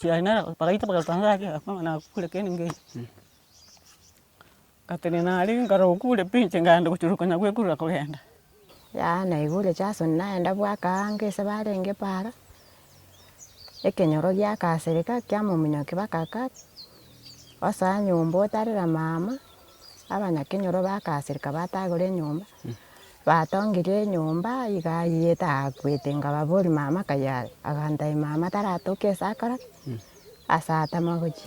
Chiaye nere bagaita bagaruta inse ake agakora ng'a nakure kende ngeche, ngatenena aria nkarora okure pi inche nkagenda gochirora konya gwekurera kogenda. Yaya naigure Jason nagenda bwaka ango ase barenge para, ekenyoro giakasereka kiamominyokia baka kare, osoa nyomba otarera mama. abanyakenyoro bagasereka batagora enyomba, batongirie enyomba iga aye etakwete nkababoria mama kaye are, agantebia mama taratoke ase akore ki? ase atama gochia.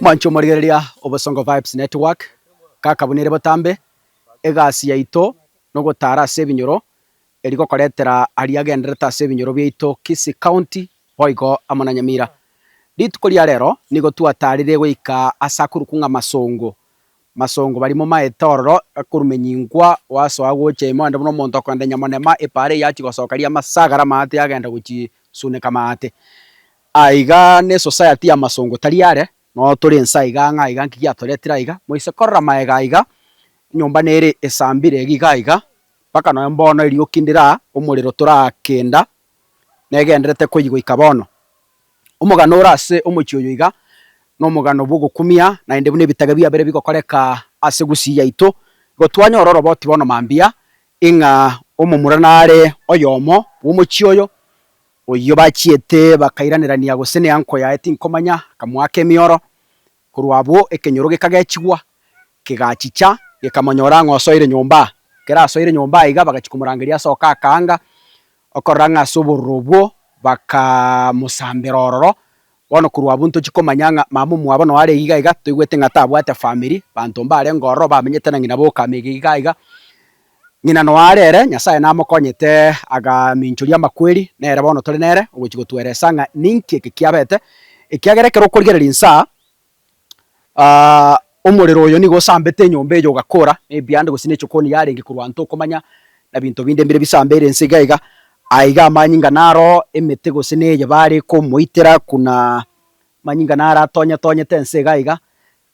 Mwanche omorigereria obosongo vibes network kaka buna ere botambe egasi yaito nogotara ase ebinyoro eri gokoretera aria agenderete ase ebinyoro biaito kisii county boigo amo na nyamira. Rituko ria rero nigo twatarire goika ase akorokwa ng'a masongo Masongo barimo maete ororo, gakorumenyingwa, gwasoa gocha ime onde buna omonto okorenda enyamonema epaara eyio achia gosoka ria amasagara amaate agenda gochisuneka amaate. Aa iga ne society ya masongo tari are, noyo tore ense aiga ng'a iga nki giatoretire aiga, moise korora maega aiga, enyomba nere esambire iga iga iga, mpaka nonya mbono erioki ndira, omorero torakenda, negenderete koigoika bono. Omogano ore ase omochie oyo iga, nomogano bwogokumia, naende buna ebitage biabere bigokoreka ase Gusii yaito, igo twanyora oroboti bono mambia, ing'a omomura nare oyomo bwomochie oyo, oyio bachiete bakairanirania gose nenko yaye tinkomanya, akamoaka emioro, Korwa abwo ekenyoro gekagechigwa, kegachicha, gekamonyora ng'a osoire nyomba. Ekero asoire nyomba iga bagachia komorangeria asoke akaanga, okorora ng'a ase obororo obwo, bakamosambera ororo. Bono korwa abwo ntochi komanya ng'a mama omwabo noo are iga iga, toigwete ng'a tabwate family, banto mbarenge ororo bamenyete na ng'ina boka ime iga iga iga. Ng'ina noare ere, Nyasae namokonyete agaminchoria amakweri, nere bono tore nere, ogochia gotweresa ng'a ninki eke kiabete, ekiagera ekero okorigereria insa, omorero oyo nigo osambete enyomba eyo ogakora, na ebianda gose ne echokoni yarenge korwa nto okomanya, na binto binde mbire bisambeire inse iga iga, aye iga amanyinga naro emete gose neye bare komoitera kuna amanyinga naro atonyatonyete ense iga iga.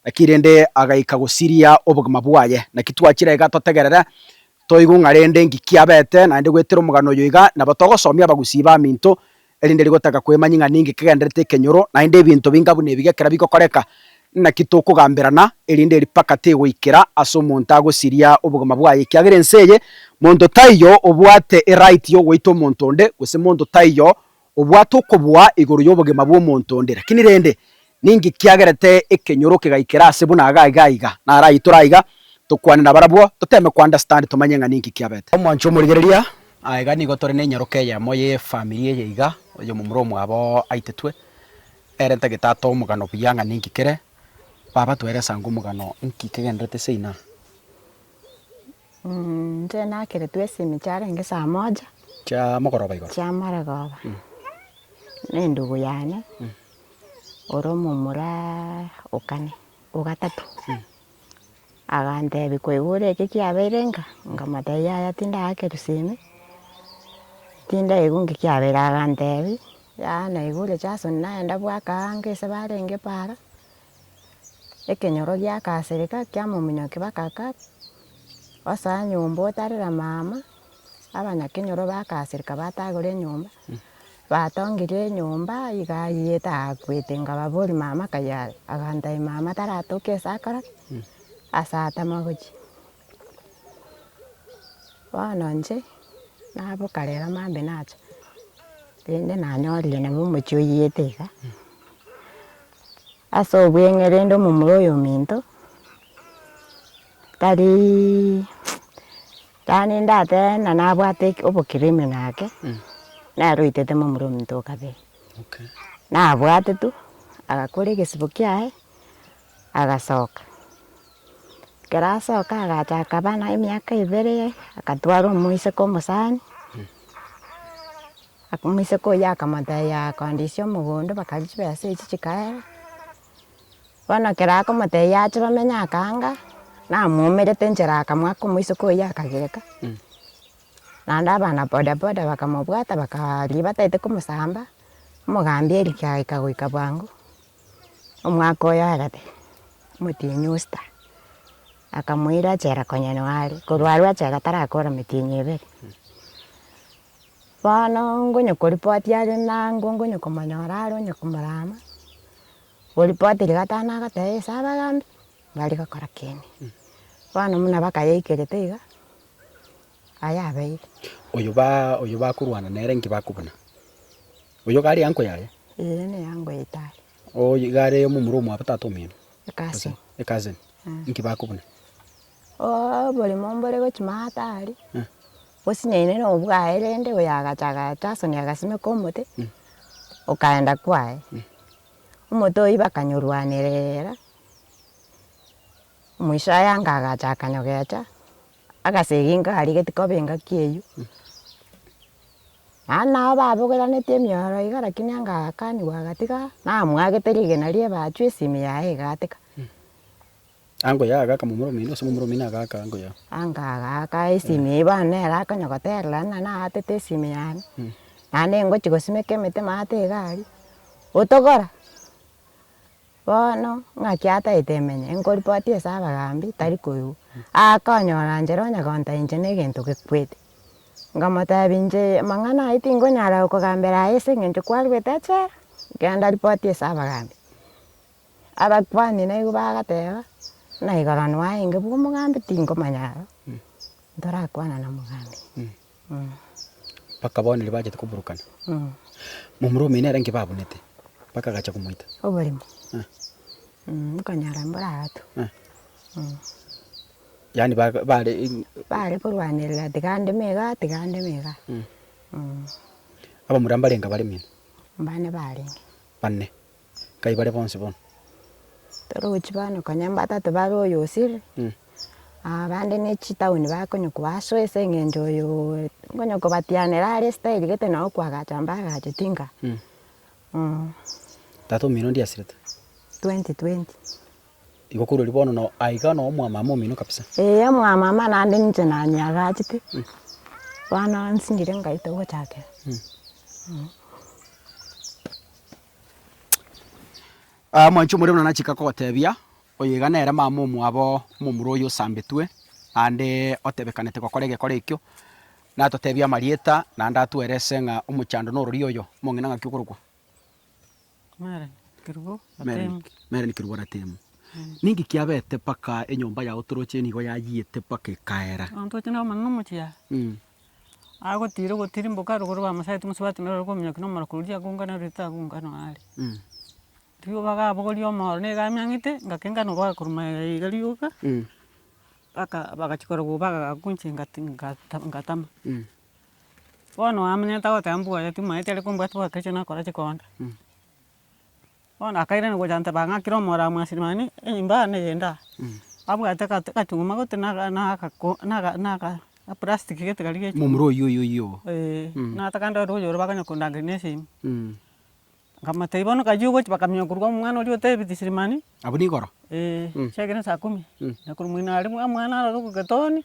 Naki rende agaika gosiria obogima bwaye. Naki twachire iga totegerere, toigwe ng'a rende ngiki abete naende gwetera omogano oyo iga, nabo togosomia abagusii baminto, erinde rigotaka kwemanyia ng'a ninki kegenderete ekenyoro, naende ebinto binga buna ebi gekera bigokoreka, naki tokogamberana, erinde ripaka tegoikera ase omonto agosiria obogima bwaye, ekiagera ense eye monto taiyo obwate eright yogoita omonto onde, gose monto taiyo obwate okoboa igoro y'obogima bw'omonto onde, lakini rende, ninki kiagerete ekenyoro kegaikera ase buna iga iga iga? Naraitore aiga, tokwane nabarabwo, toteeme ko understand tomanye ng'a ninki kiabete. Omwancho omorigereria, aiga nigo tore nenyaroka eyemo y'efamiri eye iga, oyomomura omwabo aitetwe, ere tagete atoe omogano buya ng'a ninki kere, baba toeresange omogano inki kegenderete seina. Inche nakeretwe esimi chiarenge saa moja. Chia mogoroba igoro. Chia morogooba. Na endugu yane ore omomura o kane, o gatato. Agantebi koigure eke kiabeire nka? Nkamotebi yaya tindakerwa simi, tindaigwa nki kiabeire. Agantebi yaya naigure chasoni nagenda bwaka ango ase barenge para, Ekenyoro giakasireka kiamominyokia bakaka osa nyomba otarera mama abanyakenyoro bakasireka batagora enyomba batongirie enyomba iga aye takwete nkababori mama akaye are agantebia mama taratoke ase akora ki ase atama gochia. Bono inche naboka rero mambia nacha rende nanyorire nabo omochie oiyete iga Ase obweng'e rende omomura oyominto tari yaani ndatebe buna nabwate obokriminal ake, nere oitete momura ominto oo kabere. Nabwate tu agakora egesibo kiaye agasoka. Ekero asoka agacha akaba nemiaka ebere agatwara omoiseke omosani. Omoiseke oyio akamoteebia, Kondisia omogondo, bakagwa chibesa echio chikaera. Bono ekero akomoteebia ache bamenye akanga, namwomerete nchera akamwaka omoiseke oyio akagireka. Naende abana boda boda bakamobwata bakaa riria bataete komosamba, omogambi Eric agaika goika bwango, omwaka oye oye gati, omotienyi Osita, akamoira achera konywa neware, korwa arue achera tarakora emetienyi ebere. Bono ngonyokoripoti are nango ngonyokomonyora are onye komorama, koripoti rigatama nagoteba ase abagambi mbari gokora kende. Bono buna bakayaikerete iga, ayabeire. Oyo baa oyo bakorwana nere nki bakobuna? Oyo iga are eango yaye? Eye ne eango yaito aye. Oyo iga are omomura omwabo tata omino? A cousin. A cousin. Nki bakobuna? Oboremo mbore gochia matari, osinyaine na obwaye rende oyo agacha agatasania agasimeka omote, okaenda kwaye. Omote oyio bakanyorwanerera, omoisho aye anga agacha akanyogecha, agasegi inga arigeti kobe engaki eyio. Naende nabo babogoraneti emioro iga lakini anga agakanigwa agatiga, namwagete rigena rie ebachu esimi yaye egatika. Ango yao agaaka momura omoino, ase momura omoino agaaka ango yao. Anga agaaka esimi eye bono nere akonya goterera buna naatete esimi yane, naende ngochia gosimeka emete maate egari, otogora. Bono ng'aki ataete emenye, nkoripoti ase abagambi tari koigwa. Akonyora inche nonya gonta inche na egento gekwete. Nkamotebia inche amang'ana ayio tingonyara gokogambera aye ase eng'encho kwarwete echela, genda ripoti ase abagambi. Abakuani naigo bagateba, Buna igoro nwaenge bw'omogambi tinkomanya aro, ntorakwana na mogambi. Bakaba bono riria bachete koburukana, momura omino ere inki babunete, bakagacha komoita. Oborimo. Nkonyora mbore agatwe. Yaani ba- ba- bare in- Bare korwanerera tiga andeme iga, tiga andeme iga. abamura mbarenge abare mino. Mbane barenge. Bane. Nkai bare bonsi bono. Toro gochia bono konya mbatate bare oyo osire, abande ne chitaoni bakonyokwa aso ase eng'encho oyo nkonya kobatianera are style gete nabo kwagacha mbagacheti nka. Tata omino ndie asirete? Twenty twenty. Igo korwa riria bono no aiga no omwamama omino kabisa? Ee omwamama naende ninche nanyagachete, bono nsingire ngaito gochakera. Mwanchi omorero buna nachaka kogotebia, oyo iga nere mama omwabo omomura oyo osambetwe, naende otebekanete gokora egekora ekio, natotebie amarieta naende atwere ase ng'a omochando nororia oyo, omong'ina ng'aki okorokwa? Merlin Kerubo Ratemo. Ninki kiabete mpaka enyomba yago toroche nigo yayiete mpaka ekaera? Agotiira ogotirimboka rogoro bamosaete gose batemerera rogoro okominyokia na omorokoro oria akongana rore tagongana aare. Riria obaga abogoria omooro na egame ang'ete ngaka engano obaga korwa maega ya iga rioka mpaka bagachia korora gobaga gaku inche ngata ngata ngatama. Bono oamenyerete agoteba mbwoye timaeti are kombwati boke ekiagera nakorache konde. Bono akairana gocha agoteba, Bang'akire omora omwa Silimani, enyomba yane eyende aa. Abwate akachung'uma gotyo na agaplastiki gete karia g'echung'uma. Momura oyio oyio oyio oo. Ee, natakande ororo oyore bakonya kondangeria na esimi. Nkamotebia bono kayio ogochi bakamenya korwa amo omwana oria otebeti Silimani. Abwo nigoro? Ee, chiakera saa kumi. Nakorwa moino aria omwana aroro goketoonia.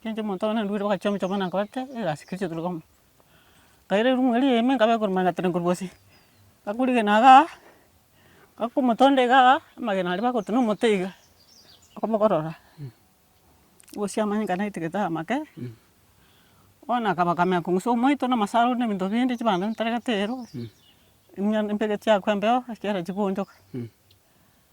Ekiagera omonto one narwire bagachia omochie na nkabata egasi keri chiatoreka amo. Nkaira erumu eria ime nkabeka korwa manyatere korwa gose. Ngakorigena igaa, ngaka omotondo igaa, amagena aria bagotema na omote iga, okobogorora, bosie amanye nka naete gete amake, bono akaba akamenya kong'usa omoito na amasaro na ebinto binde, chibando ntaregete ero, emiya embegeti yakwaa embeo ekiagera chigoonchoka.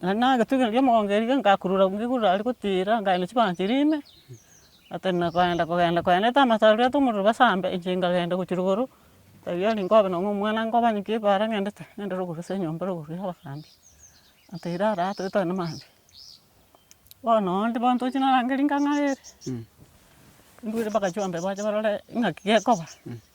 Naende egetugino ki'omogongo erio ngakurura ngigurura aria gotiira nkaenda chibanchari ime, nkatenena kogenda kogenda koendete amato aria bwate omorero basambe inche nkagenda gochia rogoro, taiyo eri nkobe nonye omwana nkoba nki eba ara ng'endete, ng'ende rogoro ase enyomba rogoro ya abasambi, nkateira ara taiyo togende maambia. Bono onde bono tochi narangeria ngang'arere, nduere mpaka chiombee bache barore ng'aki gekoba.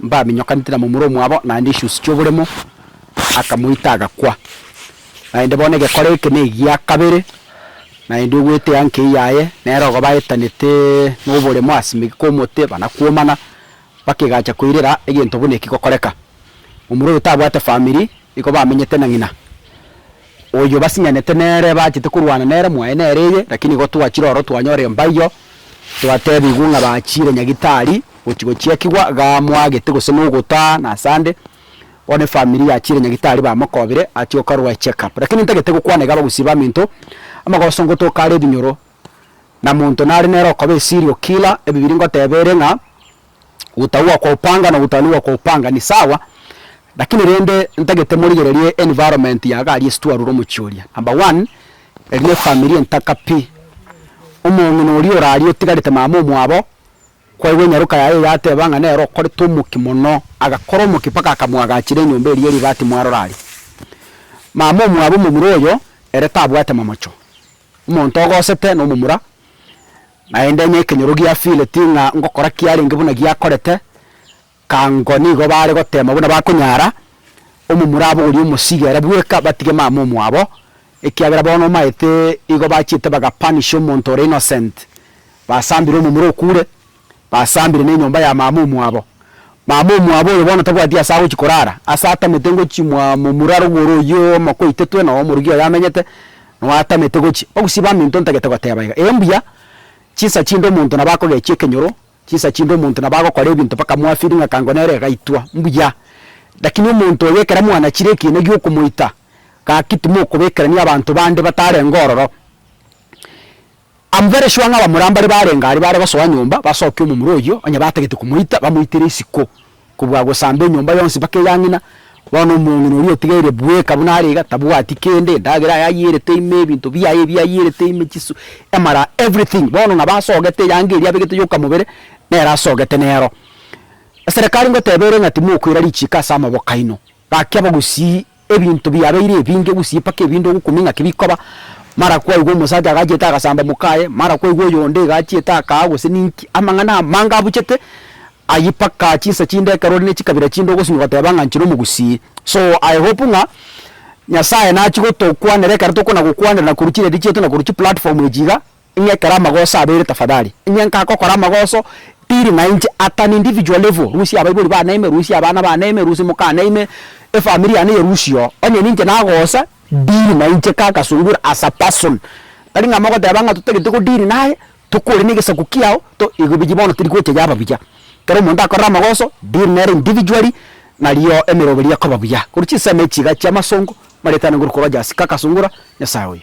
Mbaminyokanete na momura omwabo naende echunsu chi'oboremo, akamoita agakwa. Naende bono egekora eke negia kabere, naende ogwetea nkei yaye, nere ogo baetanete noboremo as'ime kw'omote banakwomana, bakegacha koirera egento buna eki gokoreka. Momura oyo tabwate famiri, nigo bamenyete na ng'ina. Oyo basinyanete nere bachete korwana nere mwaye nere eye, lakini igo twachire oro twanyora embaiyo, twatebigwa ng'a bachire nyagitari gochi gochiakigwa iga mwagete gose nogotaa na ase ande, bono efamiri yachire nyagitari bamokobire achie gokarwa echeck up. Lakini ntagete gokwana iga abagusii baminto, amagoso ngotoka are ebinyoro, na monto nare nere okoba a serial killer, ebibiri ngoteba ere ng'a Gotagwa kwa opanga na gotanigwa kwa opanga ni sawa, lakini rende ntagete morigererie environment ya gari ase twarure omochie oria. Number one, eri ne efamiri entaka pi. Omong'ina oria orarie otigarete mama omwabo, kwaigwa enyaroka yaye yateba ng'a nere okorete omokia mono, agakora omokia mpaka akamwagachera enyomba eria ere ibati mwarora aria. Mama omwabo omomura oyo, ere tabwate momocho. Omonto ogosete nomomura. Naende onye ekenyoro giafireti ng'a ngokora kiarenge buna giakorete, kango nigo baare goteema buna bakonyara, omomura abogorie omosiiga ere bweka, batige mama omwabo, ekiagera bono omaete igo bachiete bagapunisha omonto ore innocent, basambire omomura okure, basambire nenyomba ya mama omwabo. Mama omwabo oyo bono tabwati ase agochia korara, ase atamete ngochimwa momura rogoro oyio omoka oitetwe, noo omorwgi oyo amenyete. Noatamete gochia ogosiba amo into ntagete goteba iga, ee mbuya, chinsa chinde omonto nabo akogechia ekenyoro, chinsa chinde omonto nabo agokora ebinto mpaka mwafiri ng'a kango nere gaitwa, mbuya. Lakini omonto oyo ekero mwanachire ekiina gi'okomoita, gaki timokobekerania abanto bande batarenge ororo. Am very sure ng'a abamura mbare barenge aria bare gosoa nyomba basoke omomura oyio onye batagete komoita bamoitere isiko kobua gosamba enyomba yonsi mpaka eya ng'ina, bono omong'ina oria otigaire bweka buna are iga tabwati kende, endagera yaye ayierete ime, ebinto biaye ebi ayierete ime, chisu, emara, everything, bono ng'a basogete eyanga eria abegete yoka mobere nere asogete nero. Eserekari ngoteba ere ng'a timokoira richiko ase amaboko aino. Gaki bagusii ebinto biabeire ebinge gusii paka ebinde ogokumia ng'aki bikoba, mara kwaigwa omosacha agachiete agasamba mokaye, mara kwaigwa oyonde iga achiete akaa gose ninki, amang'ana amange abuchete ayio paka chinsa chinde ekero ore ne chikabira chinde ogosimia ogoteba ng'a inche nomogusii. So I hope ng'a Nyasaye nachi gotokwanera ekero tokona gokwanera na korwa chiredi chiaito na korwa chiplatform echi iga, Ing'ekere amagoso abere tafadhali. Inye nkagokora amagoso pili na inche at an individual level, rusia abaibori baneime, rusia abana baneime, rusia moka aneime, efamiri yane yerusie oo. Onye ninche nagosa, deal na inche kaka sungura as a person. Tari ng'a mogoteba ng'a totagete go deal naye, tokore negesaku kiao, to igo biyi bono teri gocha yaba buya. Kero omonto akorire amagoso, deal nere individually, nario emeroberi ekoba buya. Korwa chinsemo echi iga chi'amasongo, marieta nigorokwa Rogers kaka sungura, Nyasaye oyo.